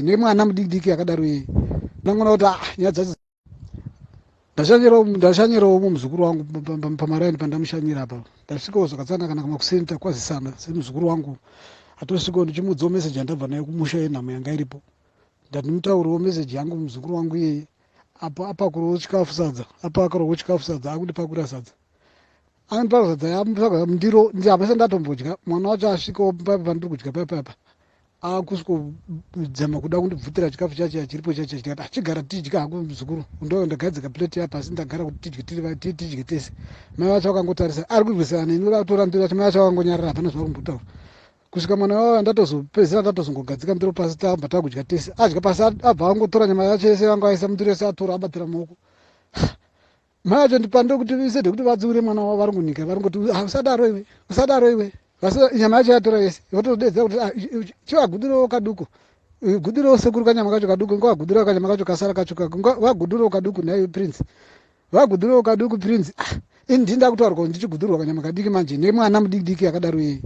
ine mwana mudikidiki akadaro yeye ndangona kuti ah, nyaya dzacho ndashanyirawo mu muzukuru wangu pamaraini pandamushanyira apa ndasvikawo zvakatsana kana kamakuseni takwazisana semuzukuru wangu atosvikawo ndichimuudzawo meseji yandabva nayo kumusha yenhamo yanga iripo ndati ndimutauriwo meseji yangu muzukuru wangu iyeye apa apakurowo chikafu sadza apa akarowo chikafu sadza akundipakurira sadza andipakusadza yamundiro ndiyamese ndatombodya mwana wacho asvikawo paipa pandiri kudya paipaipa akusvikodzama kuda kundibvutira chikafu chachiya chiripo chachiya chikati achigara tidya hako muzukuru ndo ndagadzika plate yapa asi ndagara kuti tidye tiri tidye tese mai vacho vakangotarisa ari kurwisana neni vatora ndiro vacho mai vacho vakangonyarara hapana zvavari kumbotaura kusvika mwana wavo andatozopedzisira ndatozongogadzika ndiro pasi tamba takudya tese adya pasi abva angotora nyama yacho yese vanga vaisa mundiro yese atora abatira maoko Mai vacho ndipandire kuti visede kuti vadziure mwana wavo vari kunyika vari kuti ah, usadaro iwe usadaro iwe vasi nyama yacho yatora yese votodedza kuti ah, chivagudirewo kaduku gudirewo sekuru kanyama kacho kaduku ngavagudirewo kanyama kacho kasara kacho kako ngavagudirewo kaduku nhaiwe prince vagudirewo kaduku prince ah, ini ndii ndakutaura kuti ndichigudirwa kanyama kadiki manje nemwana mudikidiki akadaro yeye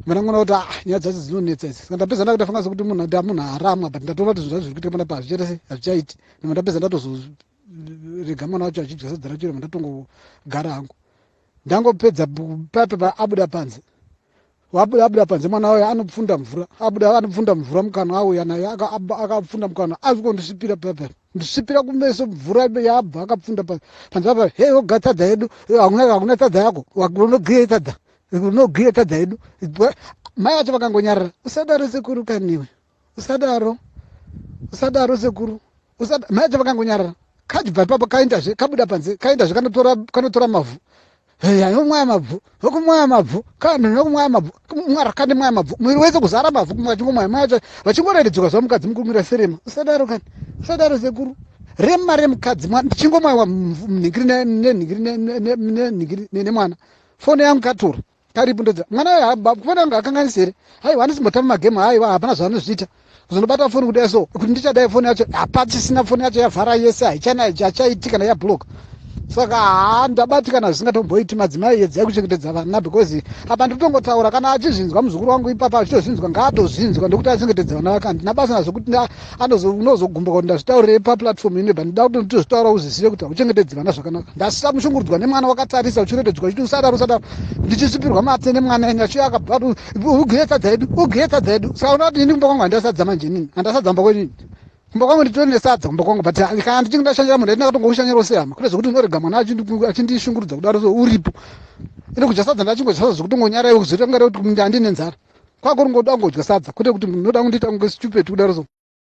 mana ngona kuti ah, nyaya dzacho dzinonetsa idzi ska ndapedza ndakutafanga sekuti munhu munhu haramwa but ndatoona kuti zvinhu zvacho zviri kuitwa pana pazvichetese hazvichaiti nima ndapedza ndatozo rega mwana wacho achidya sadza racho rema ndatongogara hangu ndangopedza papepa abuda panze wabuda abuda panze mwana wayo anopfunda mvura abuda anopfunda mvura mukanwa auya naye akapfunda mukanwa azwi kondisvipira papepa ndisvipira kumeso mvura yabva akapfunda panze apa he oga tadza yedu hakuna tadza yako unogiye tadza unogiye tadza yedu mai vacho vakangonyarara usadaro sekuru kaniwe usadaro usadaro sekuru usadaro mai acho vakangonyarara kachibva ipapo kaendazve kabuda panze kaendazve kanotora kanotora mavhu yanomwaya mabvu vokumwaya mabvu kana nokumwaya mabvu mwara kane mwaya mabvu mwiri wese kuzara mabvu kumwe vachingomwaya mwaya cho vachingoreredzwa zuva mukadzi mukumira serema usadaro kani usadaro sekuru rema remukadzi mwana ndichingomwaiwa mnhingiri nenhingiri nenhingiri nemwana fone yangu katura Karibu ndodza mwana uyo kufana kunge akanganisa here haiwa anosimbotamba magame haiwa hapana zvaanozviita kuzonobata foni kudai so kuti ndichadai foni yacho hapachisina foni yacho yavhara yese haichaiitika na yabloka saka haa ndabatikana zvisingatomboiti madzimai yedzai kuchengetedza vana because apa ndikutongotaura kana achizvinzwa muzukuru wangu ipapa achitozvinzwa ngaatozvinzwa ndokuti achengetedza vana vake handina basa nazvo kuti anozogumbuka kuti ndazvitaurire paplatform ine but ndida kuti nditozvitaura uzvizive kuti hauchengetedzi vana zvakanaka ndasisa mushungurudzwa nemwana wakatarisa uchirembedzwa uchiti usadaro usadaro ndichisvipirwa mate nemwana enye achiuya akabva ugiye sadza yedu ugiye sadza yedu saka unoda kuti ini kumba kwangu handasadza manje inini handasadza mba kwenini kumba kwangu nditore nesadza kumba kwangu but kana ndichinge ndashandira munhu aiti ndakatonga kushanyira usehama kune zvekuti unorega mwana achindishungurudza kudaro so uripo ine kudya sadza ndachingodya sadza zvekuti ngonyara iwe kuzoita kungare kuti handine nzara kwakuringoda kungodya sadza kwete kuti munoda kundiita kunge stupid kudaro so